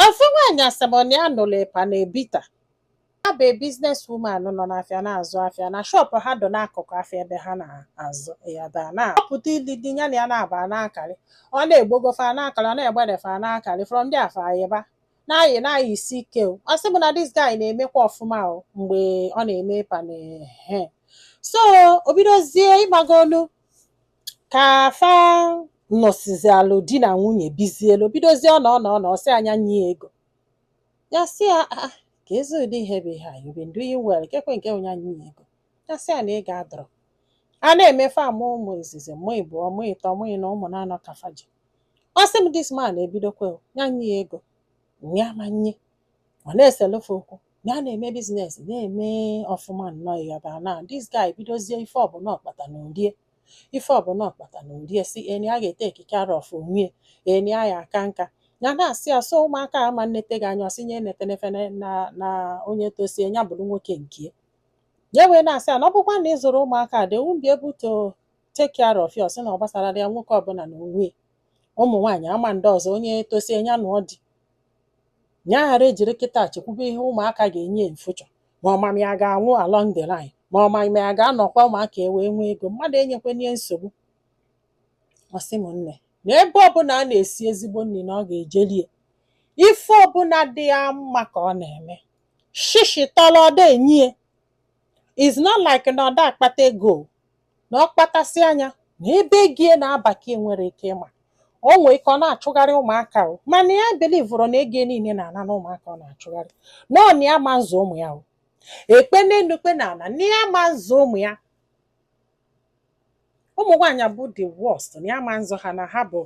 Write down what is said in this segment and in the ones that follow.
Ofu nwaanyị a sị m na ya nụrụ panel beater ya bụ business woman nọ n'afịa na-azụ afịa na shọpụ ha dị n'akụkụ afịa ebe ha na-azụ ya da na-apụta ili di ya na ya na-aba na-akarị ọ na-egbogofa na-akarị ọ na-egbedefa na-akarị from ndị afa ayịba na-ayị na-ayị isi ike o ọ sị m na this guy na-emekwa ọfụma o mgbe ọ na-eme panel ehe so o bidozie ịgbago olu ka fa nọsizialụ di na nwunye bizielu bidozie ọ na ọ na ọ na-asị a nya nye ya ego ya sị ya "Ah, ah, keezi ụdị ihe bụ ihe a you been doing well kekwe nke onye anyị nye ego ya sị ya na ego adịrọ a na-eme fa mụ ụmụ izizi mụ ịbụọ mụ ịtọ mụ ịnọ ụmụ naanọ ka fa ji ọ sị m this man ebidokwa o, ya nye ya ego nya ama nye ọ na-eselu fa okwu na a na-eme business na-eme ọfụma nnọọ ya bụ na this guy bidozie ife ọbụla ọ kpata na o rie ife ọbụla ọ kpata na o rie sị na ya ga-etake care of onwie na ya aka nka ya na-asị ya so ụmụaka ama nnete gị anya ọ sị nya nete nefe na, na, na onye tosie ya bụrụ nwoke nke ya wee na-asị ya na ọ bụkwa na ị zụrọ ụmụaka a they won't be able to take care of you ọ sị na ọ gbasarọ ya nwoke ọbụla na onwie ụmụ nwaanyị ama ndị ọzọ onye tosie ya nụọ di ya ghara ejiri kịta chekwube ihe ụmụaka ga-enye ya in future ma ọ ma ma ya ga-anwụ along the line ma ọ ma ma ya ga-anọkwa ụmụaka ewee nwee ego mmadụ enyekwene ya nsogbu ọ sị m nne na ebe ọbụla a na-esi ezigbo nri na ọ ga-eje lie ife ọbụla dị ya mma ka ọ na-eme shishi tọlọ ọ da enye ya is not like na ọ da akpata ego na ọ kpatasịa nya na ebe ego ya na-aba ka enwere ike ịma o nwee ike ọ na-achụgharị ụmụaka o mana ya belivụrụ na ego niile na-ana na ụmụaka ọ na-achụgharị na ọ na ya ma nzụ ụmụ ya o e kpee n'elu e kpee n'ala na ya ma nzụ ụmụ ya ụmụ nwaanyị bụ the worst na ya ma nzụ ha na ha bụ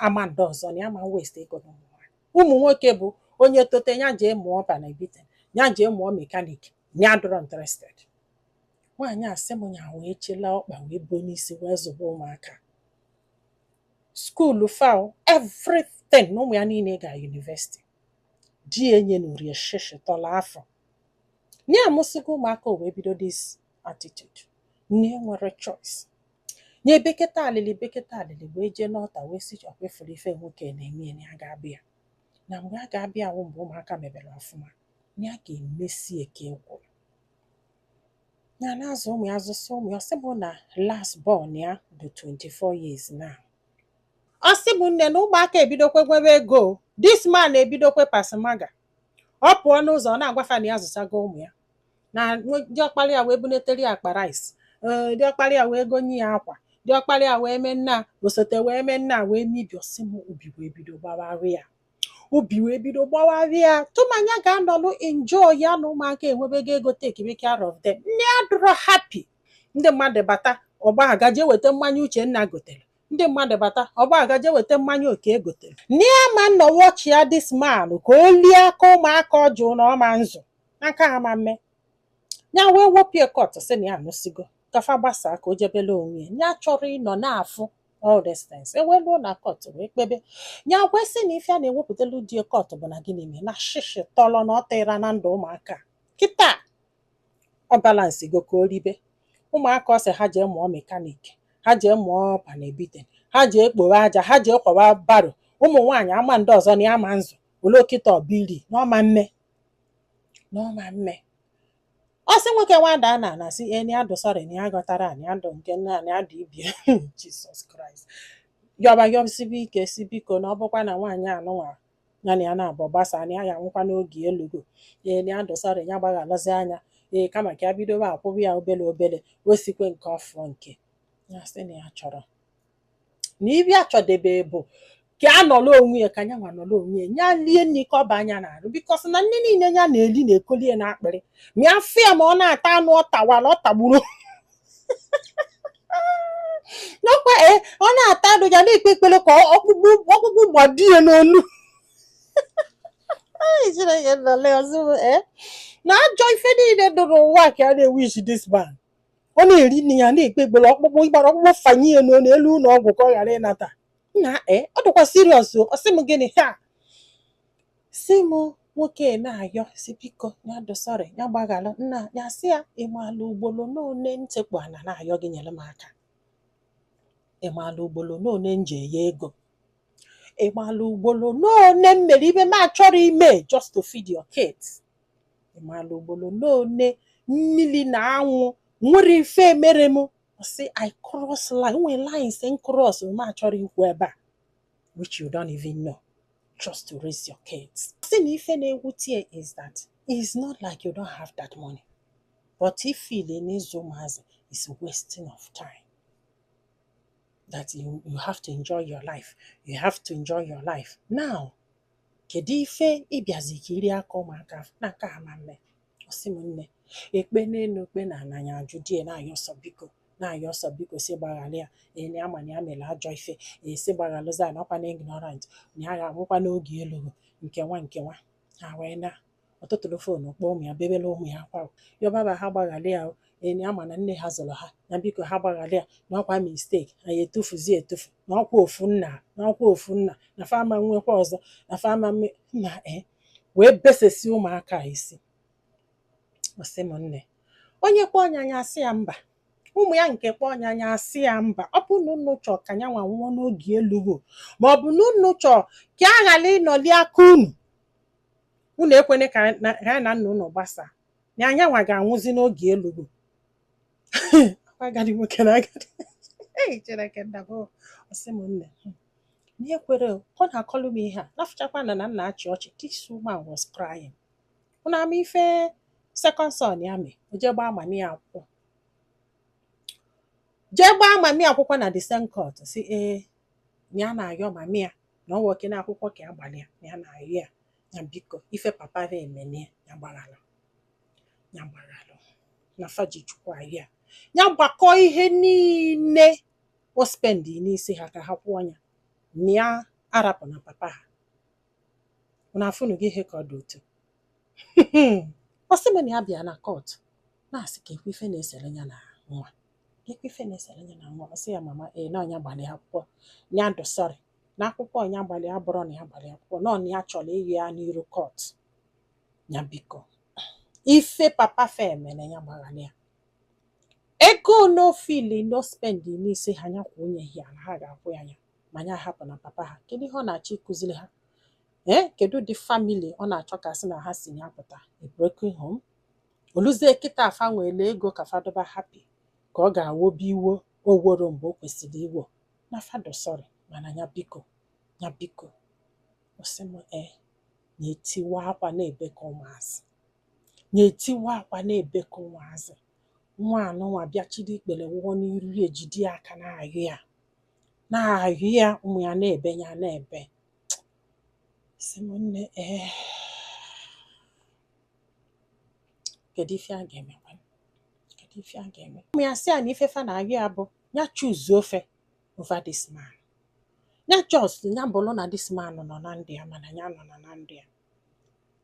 ama ndị ọzọ na ya ma waste ego na ụmụ nwaanyị ụmụ nwoke bụ onye tote ya jee mụọ panel beater ya jee mụọ mechanic ya adịrọ interested nwaanyị a sị m nya wee chela ọkpa wee buo n'isi wee zụba ụmụaka skuulu fa o, everything na ụmụ ya niile ga university di ya enyenurọ ya shishi tọlọ afụ nya amụsịgo ụmụaka o wee bido this attitude na enwerọ choice nya beketa alịlị beketa alịlị wee jee n'ọta wee sị ọ kwa ị fụrụ ife nwoke na-eme ya na ya ga-abịa ya na mgbe a ga-abịa wụ mgbe ụmụaka mebere ọfụma na ya ga-emesi ike kwụrụ na na-azụ ụmụ ya azụsịa ụmụ ya ọ sị m na last born ya bụ 24 years now ọ sị m nne na ụmụaka ebidokwe nwebe ego o. this man ebidokwe pasmaga ọ pụọ n'ụzọ ọ na-agwa fa na ya azụsịgo ụmụ ya na nwe- diọkpara ya wee bunetere ya akpa rice ee, diọkpara ya wee gonye ya akwa diọkpara ya wee mee nna osote wee mee nna wee mebie ọ sị m obi wee bido gbawarụ ya obi wee bido gbawarịa tụmanya ga-anọlụ enjoy ya na ụmụaka enwebego ego takeibe care of them na ya adụrọ happy ndị mmadụ bata ọ gbaga jee weta mmanya Uchenna gotere ndị mmadụ bata ọ gbaga jee weta mmanya Oke gotere na ya ma nọ wọchịa dis man ka o lie aka ụmụaka ọ jụlụ na ọ ma nzụ na nke a ma mme ya wee wopie kọt sị na ya anụsigo ka fa gbasaa ka o jebele onwe ya ya achọrọ ịnọ na-afụ all these things e wee luo na kọt wee kpebe ya wee sị na ife ya na-ewepụtalụ di kọt bụ na gịnị mee na shishi tọrọ na ọ tịra na ndụ ụmụaka kịta ọ balansịgo ka o ribe ụmụaka ọ sị ha jee mụọ mekanik ha jee mụọ panel beating ha jee kporo aja ha jee kwawa baro ụmụ nwaanyị a ma ndị ọzọ na ya ma nzụ o luo kịta ọbili na ọ ma mme na ọ ma mme ọ sị nwoke nwa daa n'ana sị na ya dụ sọrị na ya ghọtara na ya dụ nke nwa na ya dụ ibe ya jizọs kraịst yọba yọsibe ike si biko na ọ bụkwa na nwaanyị anụnwa ya na ya nọbụ gbasaa na ya ya-anwụkwa n'oge elughu na ya dụ sọrị ya gbaghalụzia nya ee kama ka ya bidobe akwụba ya obele obele o sikwe nke ọfụọ nke ya sị na ya achọrọ na ife ya chọdebe bụ ka ọ nọrọ onwe ya ka nyanwa nọrọ onwe ya nya lie nni ka ọ baa nya n'arụ bikọs na nni niile ya na-eli na-ekoli ya n'akpịrị ma ya fụ ya ma ọ na-ata anụ ọ tawara ọ tagburu n'ọkwa ee ọ na-ata anụ ya na-ekpe ekpere ka ọ- ọkpụkpụ ọkpụkpụ gbado ya n'olu Ai, Chineke nọle ọzọ ee na ajọ ife niile dụ n'ụwa ka ya na-ewish this man ọ na-eri nni ya na-ekpe ekpere ọkpụkpụ ịgbara ọkpụkpụ fanye ya n'olu e luo ụnọ ọgwụ ka ọ ghara ịnata nna e ọ dịkwa siriọs o ọ sị m gịnị ha sị m nwoke na-ayọ sị biko ya dụ sọrị ya gbaghara nya ya sị ya ịmala ugboro n'one m tekpu ana na-ayọ gị nyere m aka ịmala ugboro n'one m jee yọ ego ịmala ugboro n'one m mere ife m achọrọ ime just to feed your kids ị maala ugbolo n'one mmiri na anwụ nwere ife mere m ọ sị I cross line nwee lines m cross m achọrọ ikwu ebe a which you don't even know just to raise your kids sị na ife na-ewute ya is that it's not like you don't have that money but ị feeli na ịzụ ụmụazị is wasting of time that you have to enjoy your life you have to enjoy your life now kedu ife ị bịazi ka i rie aka ụmụaka na nke a ma mme ọ sị m na e kpee n'elu e kpee n'ana nya ajụ di ya na-ayọ sọ biko na-ayọ sọ biko sị gbaghara ya na ya ama na ya mere ajọ ife e sị gbagharụzia na ọ kwa na ignorant na ya ga-anwụkwa n'oge elughị nke nwa nke nwa ha wee na ọ tụtụrụ phone kpọọ ụmụ ya bebere ụmụ ya akwa yọbaba ha gbaghara ya nya ma na nne ha zụrụ ha na biko ha gbaghara ya na ọkwa mistake anyị etufuzi etufu na ọkwa ofu nna na ọkwa ofu nna na fa ama nwekwa ọzọ na fa ma nna e eh, wee besesi ụmụaka isi ọ sị m nne onye kpọọ nya nya asị ya mba ụmụ ya nke kpọọ nya nya asị ya mba ọ bụ na unu chọọ ka nyanwa nwụọ n'oge elughi ma ọ bụ na unu chọọ ka a ghara ịnọli aka unu unu ekwene ka anyị na- ka anyị na nna unu gbasaa na nyanwa ga-anwụzi n'oge elughi agadi nwoke na agadi Ei, Chineke nna m, o, ọ sị m nne hmm, na ekwere o, ọ na-akọlụ m ihe a na-afụchakwa na na m na-achị ọchị this woman was crying unu ama ife second son ya mee o jee gbaa mami ya akwụkwọ jee gbaa mami akwụkwọ na the same court sị ee ya na-ayọ mami ya na ọ bụrọkwa n'akwụkwọ ka ya gbalị ya na ya na-ayọ ya na biko ife papa ya emene ya ya gbaghalụ ya gbaghalụ na fa ji Chukwu ayọ ya ya gbakọ ihe niile o spendi n'isi ha ka ha kwụọ ya ma ya arapụna papa ha unu afụnụgo ihe ka ọ dị otu ọ sị m na ya bịa na court na-asị ka e kwuo ife na-esere ya na nwa e kwuo ife na-esere ya na nwa ọ sị ya mama ee na ọ nya gbalị akwụkwọ ya dụ sorry na akwụkwọ nya gbalị abụrọ na ya gbalị akwụkwọ na nya chọrọ ịyọ ya n'iru court ya biko ife papa fa mere ya gbaghara ya ego na o fili na o spendi n'isi ha nya kwuo ọnụ ya na ha ga-akwụ ya ya ma nya ahapụna papa ha kedu ihe ọ na-achọ ịkụziri ha ee eh, kedu ụdị family ọ na-achọ ka a sị na ha si na ya pụta a broken home o luzie kịta a fa nwere ego ka fa dụba happy ka ọ ga-ewobe iwo o worọ mgbe o kwesịrị iwo na fa dụ sorry mana nya biko nya biko ọ sị m ee eh, nya etiwa akwa na-ebe ka ụmụazị nya etiwa akwa na-ebe ka ụmụazị nwa anụnwa bịa chịrị ikpere wụọ n'iru ya ejide ya aka na-ayọ ya na-ayọ ya ụmụ ya na-ebe ya na-ebe sị m nne ee kedu ife a ga-eme kedu ife a ga-eme ụmụ ya sị ya na ife fa na-ayọ ya bụ ya choose fa over this man ya just ya bụrụ na this man nọ na ndụ ya mana ya nọ na ndụ ya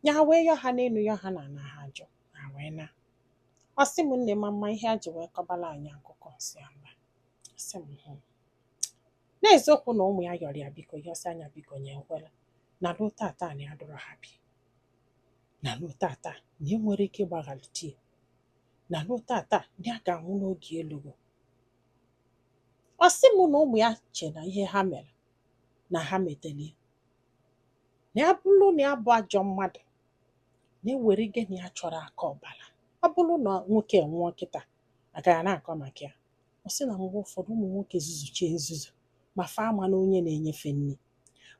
ya wee yọ ha n'elu yọ ha n'ana ha ajụ ha wee naa ọ sị m nne ma m ma ihe ya ji wee kọbala anyị akụkọ m sị ya mba ọ sị m hụ n'eziokwu na ụmụ ya yọrọ ya biko yọsịa ya biko ya ekwela na ruo tata na ya adụrọ happy na ruo tata na e nwere ike ịgbaghara di ya na ruo tata na ya ga-anwụ n'oge elugo ọ sị m na ụmụ ya che na ihe ha mere na ha meteli ya na ya bụrụ na ya bụ ajọ mmadụ na ewere gị na ya achọrọ aka ọbara ọ bụrụ na nwoke nwụọ kịta agaghị na-akọ maka ya ọ sị na mgbe ụfọdụ ụmụ nwoke zuzuchie nzuzu ma fa ama na onye na-enye fa nri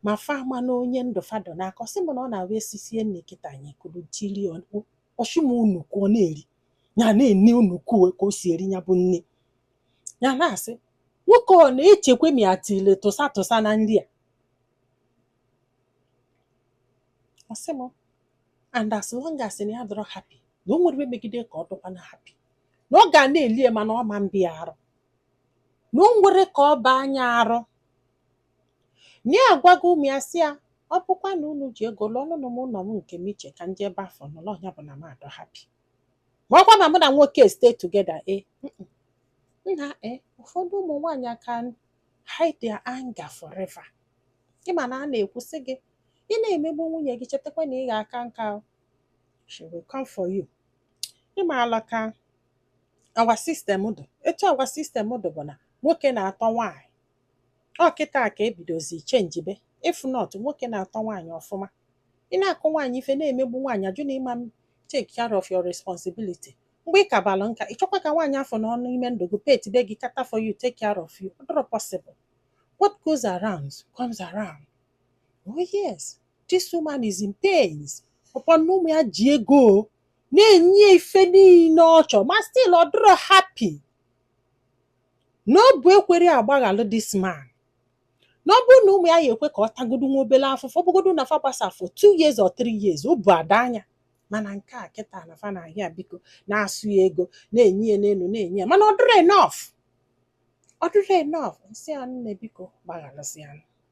ma fa ama na onye ndụ fa dọ n'aka ọ sị m na ọ na-abụ esisie nri kịta ya ekuru tiri ọ sị m onukwu ọ na-eri ya na-ene onukwu ka o si eri ya bụ nri ya na-asị nwoke ọ na-echekwa m ya tile tụsa tụsa na nri a ọ sị m and as long as na ya adọrọ happy na o nwere megide ka ọ dọkwana happy na ọ ga na-eli ya mana ọ ma aba ya arụ na o nwerọ ka ọ baa ya arụ na ya agwago ụmụ ya sị ya ọ bụkwa na unu ji ego lụọnụnụ m ụlọ m nke m iche ka m jee ebe afụ nọrọ ọ ya bụ na m adọ happy ma ọkwa na mụ na nwoke stay together e nna e ụfọdụ ụmụ nwaanyị can hide their anger forever ị ma na a na-ekwu sị gị ị na-emegbu nwunye gị chetakwa na ị ga-aka nka o. she will come for you ị maala ka our system dụ etu our system dụ bụ na nwoke na-atọ nwaanyị ọ kịta ka e bidozi chenjibe if not nwoke na-atọ nwaanyị ọfụma ị na-akụ nwaanyị ife na-emegbu nwaanyị ajụ na ị ma take care of your responsibility mgbe ị kabalụ nka ị chọkwa ka nwaanyị afụ nọọ n'ime ndụ gị pet be gị cater for you take care of you ọ dọrọ possible what goes around comes around oh yes this woman is in pains ọkwa na ụmụ ya ji ego na-enye ya ife niile ọ chọrọ ma still ọ dịrọ happy na obu ekwerọ ya gbaghalụ this man na ọ bụrụ na ụmụ ya ya ekwe ka ọ tagodu nwa obere afụfụ ọ bụgodu na fa gbasa for two years or three years obu adaa ya mana nke a kịta na fa na-ayọ ya biko na-asụ ya ego na-enye ya n'elu na-enye ya mana ọ dịrọ enough ọ dịrọ enough m sị ya nne biko gbaghalụzịanụ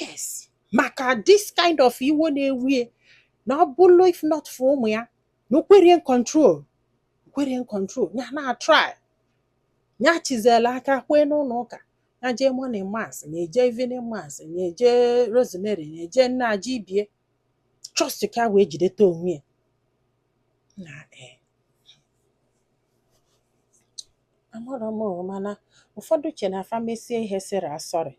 yes maka this kind of iwe na-ewe ya na ọ bụrụ if not for ụmụ ya na o kwerọ ya control o kwerọ ya control ya na-try ya chizela aka kwee n'ụlọ ụka ya jee morning mass na-eje evening mass na-eje rosemary na-eje nna aja ibie trust ka wee jideta onwe ya na ee amarọ m o, mana ụfọdụ che na fa mesie ihe sị ya sorry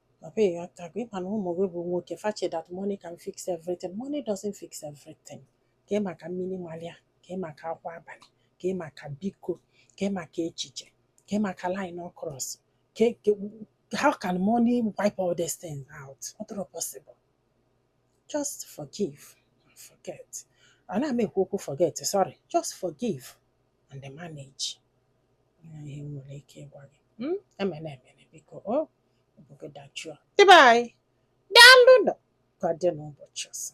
Papa ya ka gị ma na ụmụ gị bụ nwoke fa che that money can fix everything money doesn't fix everything kee maka mmiri malụ ya kee maka akwa abalị kee maka biko kee maka echiche kee maka line ọ cross ka how can money wipe all these things out ọ dịrọ possible just forgive and forget ana m ekwu okwu forget sorry just forgive and then manage ihe m nwere ike ịgwa gị hmm? emela emela biko o oh, obi gị dajụọ ndị be anyị daalụ nụ ka ọ dị n'ụbọchị ọzọ